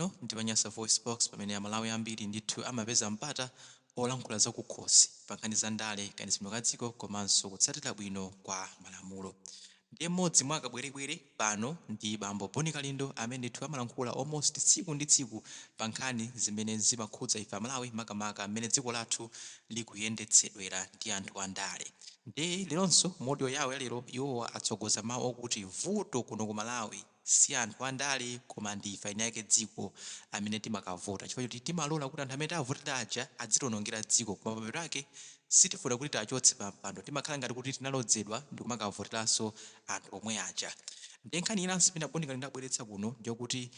Pano ndi pa Nyasa VoiceBox pamene a Malawi ambiri ndithu amapeza mpata olankhula za kukhosi pa nkhani za ndale, kayendetsedwe ka dziko komanso kutsatira bwino kwa malamulo. Ndiye m'modzi mwa akabwerebwere pano ndi Bambo Bon Kalindo amene ndithu amalankhula almost tsiku ndi tsiku pa nkhani zimene zimakhudza ife a Malawi makamaka m'mene dziko lathu likuyendetsedwera ndi anthu a ndale. Ndiye leronso mu audio yawo ya lero iwowa atsogoza mawu okuti vuto kuno ku Malawi, si anthu andale koma ndi ife eniake dziko amene timakavota chifukwa choti timalora kuti anthu amene tawavotera aja adzitionongera dziko koma pamapeto ake sitifuna kuti tiwachotse pa mpando timakhala ngati kuti tinalodzedwa ndikumakavoteranso anthu omwe aja ndiye nkhani inanso imene a Bon Kalindo abweretsa kuno ndiyokuti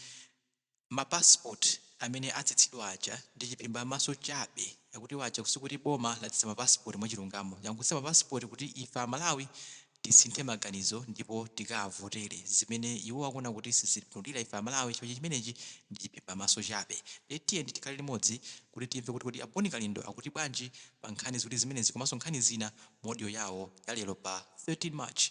Ma passport amene atsitsidwa aja ndi chiphimba maso chabe akuti waja sikuti boma latsitsa ma passport mwachilungamo langotsitsa ma passport kuti ife amalawi tisinthe maganizo ndipo tikawavotere zimene iwowo akuona kuti sizitipindulira ife amalawi chifukwa chimenechi ndi chiphimba maso chabe ndiye tiyeni tikhale limodzi kuti timve kuti kodi a Bon Kalindo akuti bwanji pa nkhani ziwiri zimenezi komanso nkhani zina mu audio yawo ya lero pa 13 March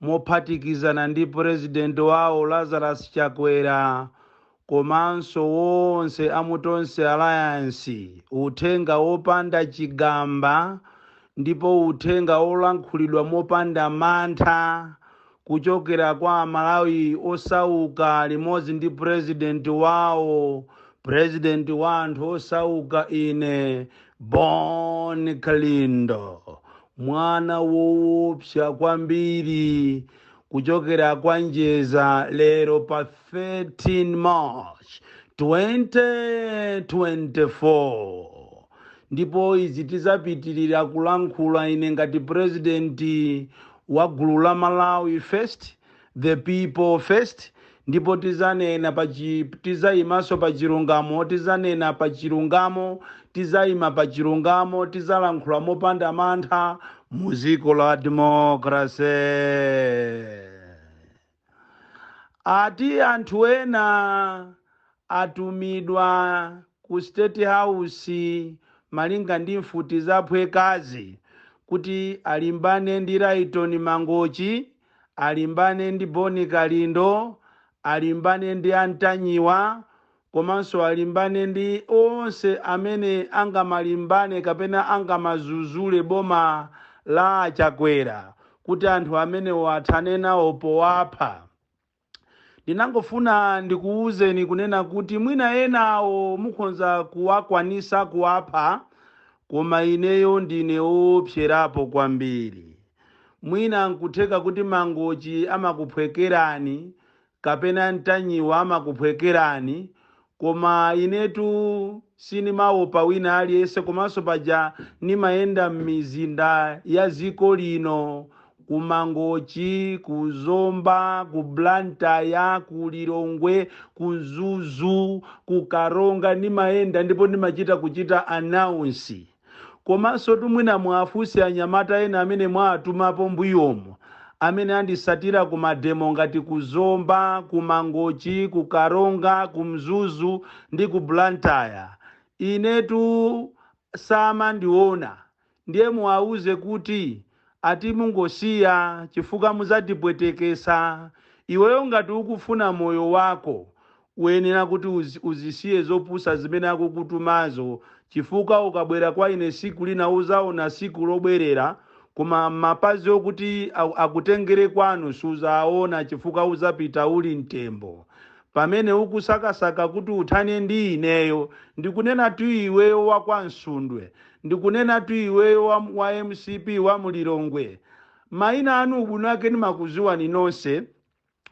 mophatikizana ndi President wawo Lazarus Chakwera komanso wonse a mu Tonse Alliance uthenga wopanda chigamba ndipo uthenga wolankhulidwa mopanda mantha kuchokera kwa Amalawi osauka limodzi ndi President wawo, President wa anthu osauka ine Bon Kalindo. Mwana woopsa kwambiri kuchokera kwa Njeza lero pa 13 March 2024 ndipo izi tizapitilira kulankhula ine ngati president wa gulu la Malawi First The people first ndipo tizanena pa chi, tizaimanso pa chilungamo, tizanena pa chilungamo, tizaima pa chilungamo, tizalankhula mopanda mantha mu dziko la democracy. Ati anthu ena atumidwa ku State House malinga ndi mfuti zaphwekazi kuti alimbane ndi Rayton Mangochi alimbane ndi Boni Kalindo, alimbane ndi a Ntanyiwa komanso alimbane ndi onse amene angamalimbane kapena angamazuzule boma la a Chakwera kuti anthu amenewo athane nawo powapha. Ndinangofuna ndikuuzeni kunena kuti mwina ena awo mukhonza kuwakwanisa kuwapha koma ineyo ndine oopserapo kwambiri. Mwina nkutheka kuti Mangochi amakuphwekerani kapena Ntanyiwa amakuphwekerani Koma inetu sinimaopa wina aliyense komanso paja nimayenda mmizinda ya ziko lino ku mangochi, ku zomba, ku blantyre, ku lilongwe, ku mzuzu, ku karonga nimayenda ndipo nimachita kuchita announce. Komansotu mwina muwafunse anyamata ena amene mwawatumapo mbuyomu amene andisatira ku mademo ngati ku Zomba, ku Mangochi, ku Karonga, ku Mzuzu ndi ku Blantyre. Inetu samandiona. Ndiye muwauze kuti ati mungosiya chifukwa muzatipwetekesa iweyo ngati ukufuna moyo wako uyenera kuti uzisiye zopusa zimene akukutumazo chifukwa ukabwera kwa ine siku lina uzaona siku lobwerera koma mapazi okuti akutengere kwanu suzaawona chifukwa uzapita uli mtembo Pamene ukusakasaka kuti uthane ndi ineyo, ndikunenatu iweyo wa kwa Msundwe, ndikunenatu iweyo wa mcp wa mu Lilongwe. Maina anu ubwino wake ndimakuziwani nonse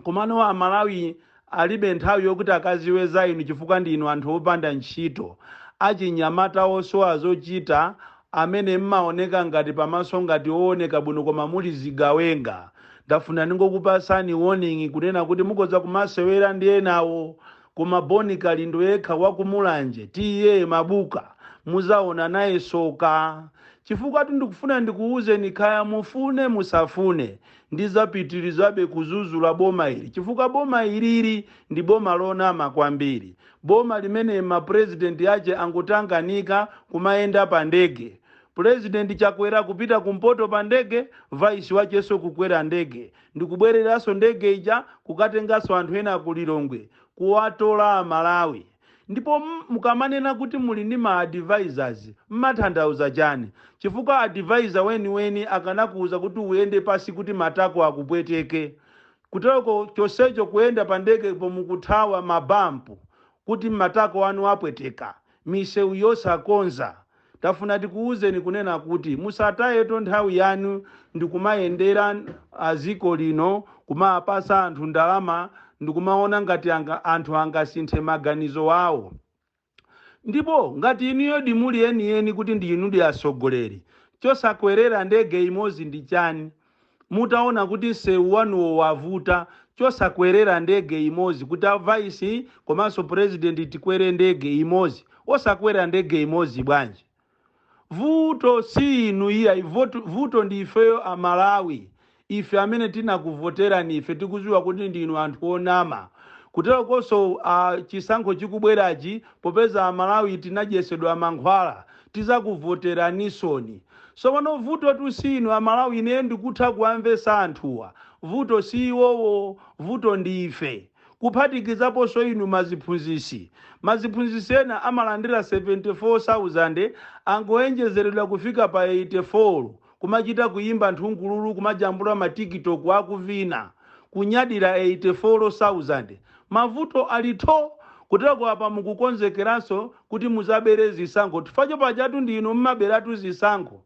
komano a Malawi alibe nthawi yokuti akaziwe za inu chifukwa ndi inu anthu opanda ntchito, achinyamata osowa zochita, amene mmaoneka ngati pamaso ngati owoneka bwino koma muli zigawenga ndafuna ndingokupasani warning kunena kuti mukhoza kumasewera ndi enawo koma Bon Kalindo yekha wa ku Mulanje TA Mabuka muzaona naye soka chifukwatu ndikufuna ndikuuzeni khaya mufune musafune ndizapitilizabe kuzuzula boma ili chifukwa boma ilili ndi boma lonama kwambiri Boma limene ma president ache angotanganika kumayenda pa ndege. President Chakwera kupita ku mpoto pa ndege, vice wacheso kukwera ndege ndikubwereranso ndege ija kukatenganso anthu ena ku Lilongwe kuwatola a Malawi. Ndipo mukamanena kuti muli ndi ma advisors mmathandauza chani? Chifukwa advisor weniweni akanakuuza kuti uyende pansi kuti matako akupweteke. Kuteroko chonsecho kuyenda pa ndege pomwe mukuthawa ma bump kuti matako anu apweteka, misewu yosakonza. Tafuna tikuuzeni kunena kuti musatayeto nthawi yanu ndikumayendera a dziko lino kumawapatsa anthu ndalama ndikumaona ngati anthu angasinthe maganizo awo. Ndipo ngati inuyodi muli enieni kuti ndi inudi atsogoleri, chosakwerera ndege imodzi ndi chani? Mutaona kuti msewu wanuwo wavuta, chosakwerera ndege imodzi kuti a vice komanso president tikwere ndege imodzi? Osakwerera ndege imodzi bwanji? Vuto si inu iyayi vuto ndi ifeyo a Malawi ife amene tinakuvoterani ife tikuziwa kuti ndinu anthu onama kuterokonso chisankho chikubwerachi popeza a Malawi tinadyesedwa mankhwala tizakuvoteraninsoni sopano vutotu si inu a Malawi ineyo ndikutha kuwamvesa anthuwa vuto si iwowo vuto ndi ife kuphatikizaponso inu maziphunzisi. Maziphunzisi ena amalandira 74,000 angowonjezeredwa kufika pa 84 kumachita kuyimba nthungululu kumajambula ma tiktok akuvina. Kunyadira 84,000. Mavuto ali tho! Kuteroko apa mukukonzekeranso kuti muzabere zisankho chifukwa pajatu ndi inu mmaberatu zisankho.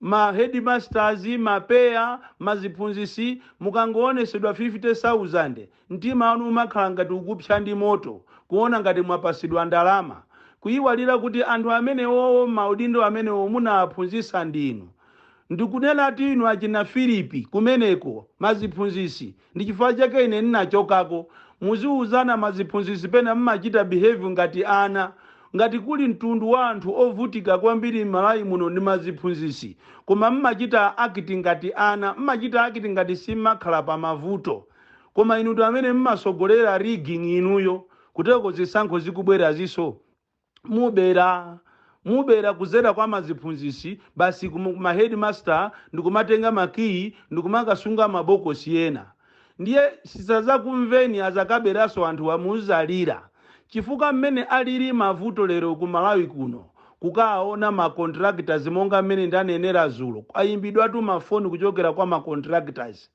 ma headmasters, ma PEA, ma ziphunzisi mukangowonesedwa 50,000 mtima wanu umakhala ngati ukupsya ndi moto kuwona ngati mwapasidwa ndalama kuyiwalira kuti anthu amenewowo maudindo amenewo munawaphunzisa ndinu ndikunenatu inu achina Philip kumeneko ma ziphunzisi Ndi chifukwa chake ine ndinachokako. Muziuzana maziphunzisi pena mmachita behave ngati ana. Ngati kuli mtundu wa anthu ovutika kwambiri Malawi muno ndi maziphunzisi. Koma mmachita act ngati ana. Mmachita act ngati simmakhala pa mavuto. Koma inutu amene mmasogolera rigging inuyo. Kuteroko zisankho zikubweraziso. mubera mubera kuzera kwa maziphunzisi basi kuma headmaster ndikumatenga makiyi ndikumakasunga mabokosi ena ndiye sisazakumveni azakaberaso anthu amuzalira chifukwa mmene alili mavuto lero ku malawi kuno kukaona ma contractors monga mmene ndanenera zulo ayimbidwatu mafoni kuchokera kwa ma contractors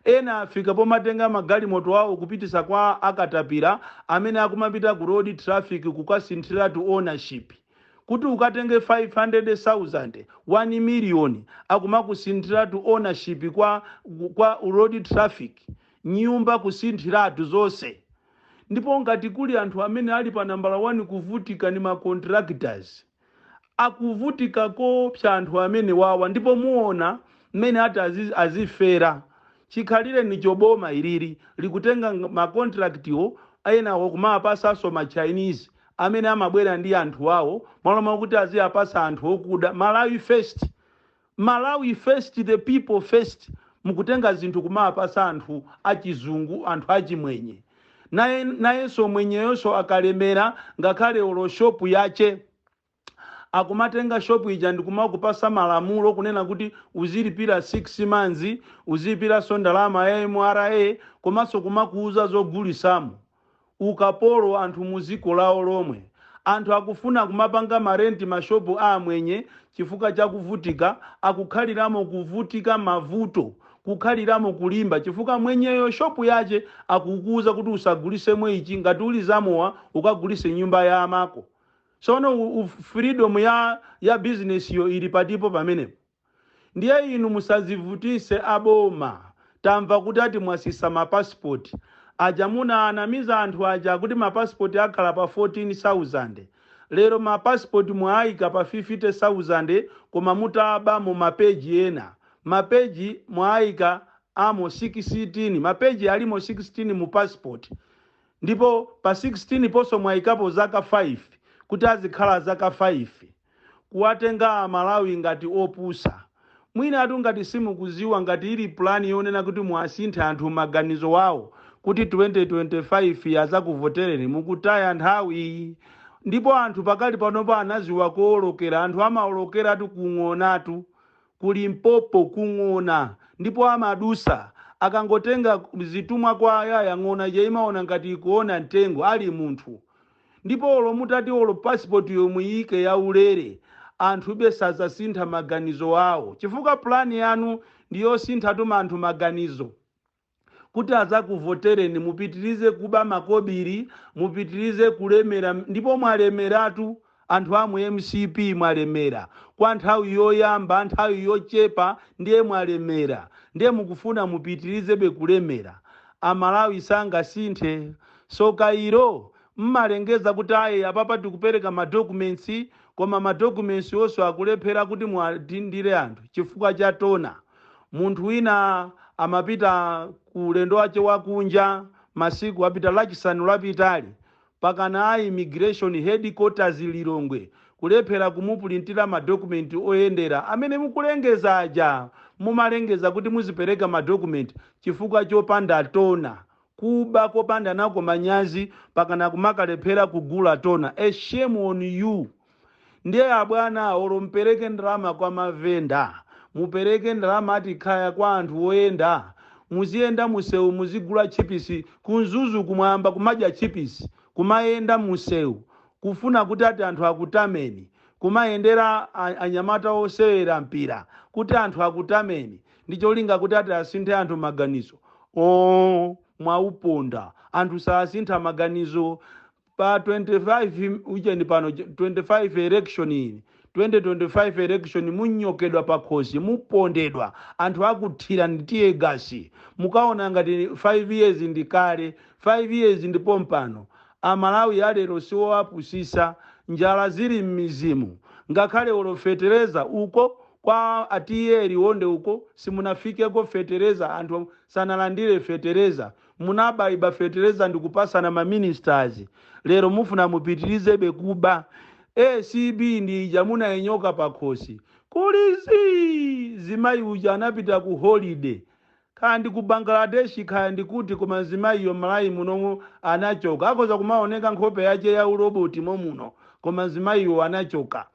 Ena afika pomatenga magalimoto awo kupitisa kwa a katapila amene akumapita ku road traffic kukasinthilatu ownership. Kuti ukatenge 500,000, 1 million akumakusinthilatu ownership kwa road traffic. Nyumba kusinthilatu zonse. Ndipo ngati kuli anthu amene ali pa nambala 1 kuvutika ndi ma contractors. Akuvutika koopsa anthu amenewawa ndipo muona mmene ati azifera. Chikhalirenicho boma ilili likutenga ma contract enawa kumawapasanso ma Chinese amene amabwera ndi anthu awo mmalo mwakuti aziapasa anthu okuda. Malawi first. Malawi first the people first mukutenga zinthu kumawapasa anthu achizungu anthu achimwenye nayenso mwenyeyonso akalemera ngakhale olo shop yache akumatenga shop ija ndikumakupasa malamulo kunena kuti uzilipira 6 months uzilipiranso ndalama ya MRA komanso kumakuuza zogulisamo ukapolo anthu mu ziko lawo lomwe. Anthu akufuna kumapanga ma rent ma shop a amwenye chifukwa cha kuvutika akukhaliramo kuvutika mavuto kukhaliramo kulimba chifukwa mwenyeyo shop yache akukuuza kuti usagulisemo ichi ngati uli zamowa ukagulise mnyumba ya amako sono u, u freedom ya ya business yo ili patipo pamenepo? Ndiye inu musazivutise a boma tamva kuti ati mwasisa ma passport aja munawanamiza anthu aja kuti ma passport akhala pa 14000 lero ma passport mwawaika pa 50000 koma mutabamo ma page ena ma page mwawaikamo 16 ma page alimo 16 mu passport ndipo pa 16 ponso mwaikapo zaka 5 kuti azikhala zaka 5. kuwatenga amalawi ngati opusa. Mwinatu ngati simukuziwa ngati ili plan yonena kuti muwasinthe anthu maganizo awo kuti 2025 azakuvotereni mukutaya nthawi. Ndipo anthu pakali panopa anaziwa koolokera, anthu amaolokeratu ku ng'onatu, ku Limpopo ku ng'ona ndipo amadusa akangotenga zitumwa kwa ayaya ng'ona ija imayiona ngati ikuona mtengo ali munthu. Ndipo olo mutati olo passport yo muyiike ya ulere anthube sazasintha maganizo awo chifukwa plan yanu ndi yosinthatu anthu maganizo kuti azakuvotereni mupitilize kuba makobili mupitilize kulemera ndipo mwalemeratu anthu amu mcp mwalemera kwa nthawi yoyamba nthawi yochepa ndiye mwalemera ndiye mukufuna mupitilizebe kulemera amalawi sangasinthe So Cairo mmalengeza kuti ayi apapa tikupereka ma documents koma ma documents wonso akulephera kuti muwadindire anthu chifukwa cha tona. Munthu wina amapita ku ulendo wache wa kunja masiku apita lachisanu lapitali mpakana a immigration headquarters Lilongwe kulephera kumupulintira ma document oyendera amene mukulengeza aja mumalengeza kuti muzipereka ma document chifukwa chopanda tona Kuba kopanda nako manyazi mpakana kumakalephera kugula tona a shame on you ndiye abwana olo mpereke ndalama kwa ma venda mupereke ndalama ati kaya kwa anthu oyenda muziyenda musewu muzigula tchipisi ku mzuzuku mwayamba kumadya tchipisi kumayenda musewu kufuna kuti ati anthu akutameni kumayendera a- anyamata osewera mpira kuti anthu akutameni ndi cholinga kuti ati asinthe anthu maganizo oo mwauponda anthu sasintha maganizo pa 25 uchenji pano 25 electionini 2025 election munyokedwa pakhosi mupondedwa anthu akuthira ndi tear gas mukaona ngati 5 years ndi kale 5 years ndi pompano A Malawi a lero siwoapusisa, njala zili mmizimu, ngakhale olo fetereza uko kwa a TA Liwonde uko sinafikeko fetereza anthu sanalandile fetereza, munabaiba fetereza ndikupasana ma ministers, lero mufuna mupitilizebe kuba, ACB ndi ija munainyoka pakhosi kuli zii, zimayi uja anapita ku holiday, Kaya ndi ku Bangladesh kaya ndi kuti koma mzimayiyo m'Malawi muno anachoka. Akhoza kumaoneka nkhope yake ya u robot mom'muno koma mzimayiyo anachoka.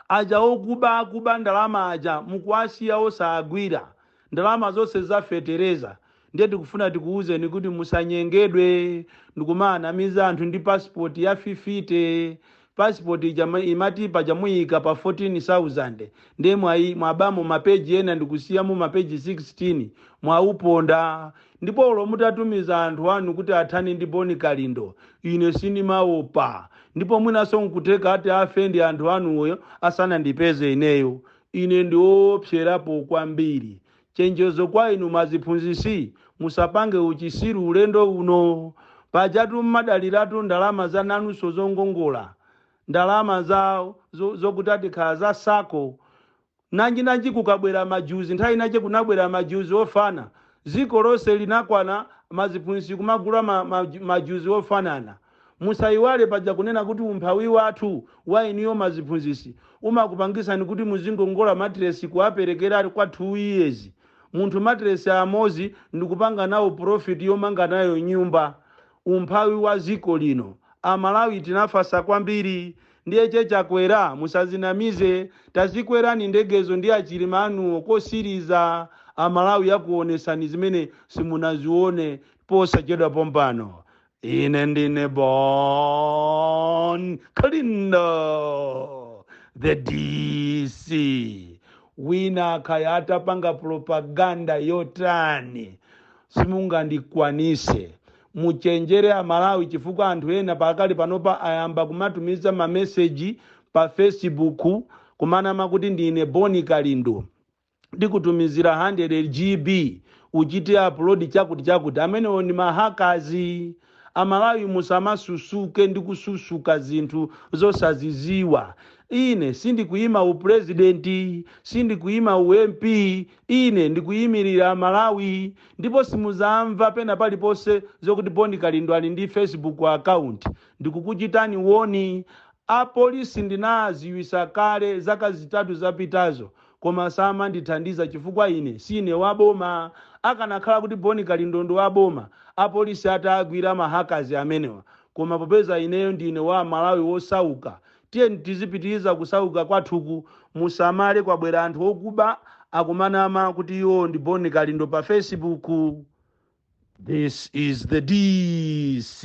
Aja okuba akuba ndalama aja mukuwasiya osaagwira. Ndalama zonse za fetereza. Ndiye tikufuna tikuuzeni kuti musanyengedwe ndikumaanamiza anthu ndi passport ya fifite. passport imati paja muyika pa 14000 ndiye mwabamo mapeji ena ndikusiyamo mapeji 16 mwauponda ndipo olo mutatumiza anthu anu kuti athane ndi Bon Kalindo ine sindimaopa ndipo mwinaso nkutheka ati afe ndi anthu anuwo asanandipeze ineyo ine ndiwoopserapo kwambiri Chenjezo kwa inu maziphunzisi musapange uchisiru ulendo uno. Pajatu mmadaliratu ndalama za nanunso zongongola ndalama za zo zokutati kaya za sacco. Nanji nanji kukabwera majuzi nthawi inache kunabwera majuzi ofana ziko lonse linakwana maziphunzisi kumagula ma ma majuzi ofanana. Musaiwale paja kunena kuti umphawi wanthu wa inuyo maziphunzisi umakupangisani kuti muzingongola matiresi kuwaperekera kwa 2 years munthu matiresi amozi ndikupanga nawo profit yomanga nayo nyumba. Umphawi wa ziko lino. A Malawi tinafasa kwambiri. Ndiye che Chakwera musazinamize tazikwerani ndegezo ndi a Chilima anuwo kosiriza a Malawi akuwonesani zimene simunaziwone posachedwa pompano. Ine ndine Bon Kalindo, the DC. Wina kaya atapanga propaganda yotani simungandikwanise muchenjere amalawi chifukwa anthu ena pakali panopa ayamba kumatumiza mameseji pa facebook kumanama kuti ndine Bon Kalindo ndikutumizira 100 GB uchite upload chakuti chakuti amenewo ndi ma hackers amalawi musamasusuke ndi kususuka zinthu zosaziziwa ine sindikuima upulezidenti sindikuima u mp ine ndikuyimirira amalawi ndipo simuzamva pena paliponse zokuti bon kalindo ali ndi facebook account ndikukuchitani woni apolisi ndinaziwisa kale zaka zitatu zapitazo Koma samandithandiza chifukwa ine siine wa boma. Akanakhala kuti Bon Kalindo ndi wa boma, apolisi ataagwira ma hackers amenewa. Koma popeza ineyo ndine wa aMalawi osauka, tiyeni tizipitiriza kusauka kwathuku. Musamale kwabwera anthu okuba akumanama kuti iwowo ndi Bon Kalindo pa Facebook. This is the DC.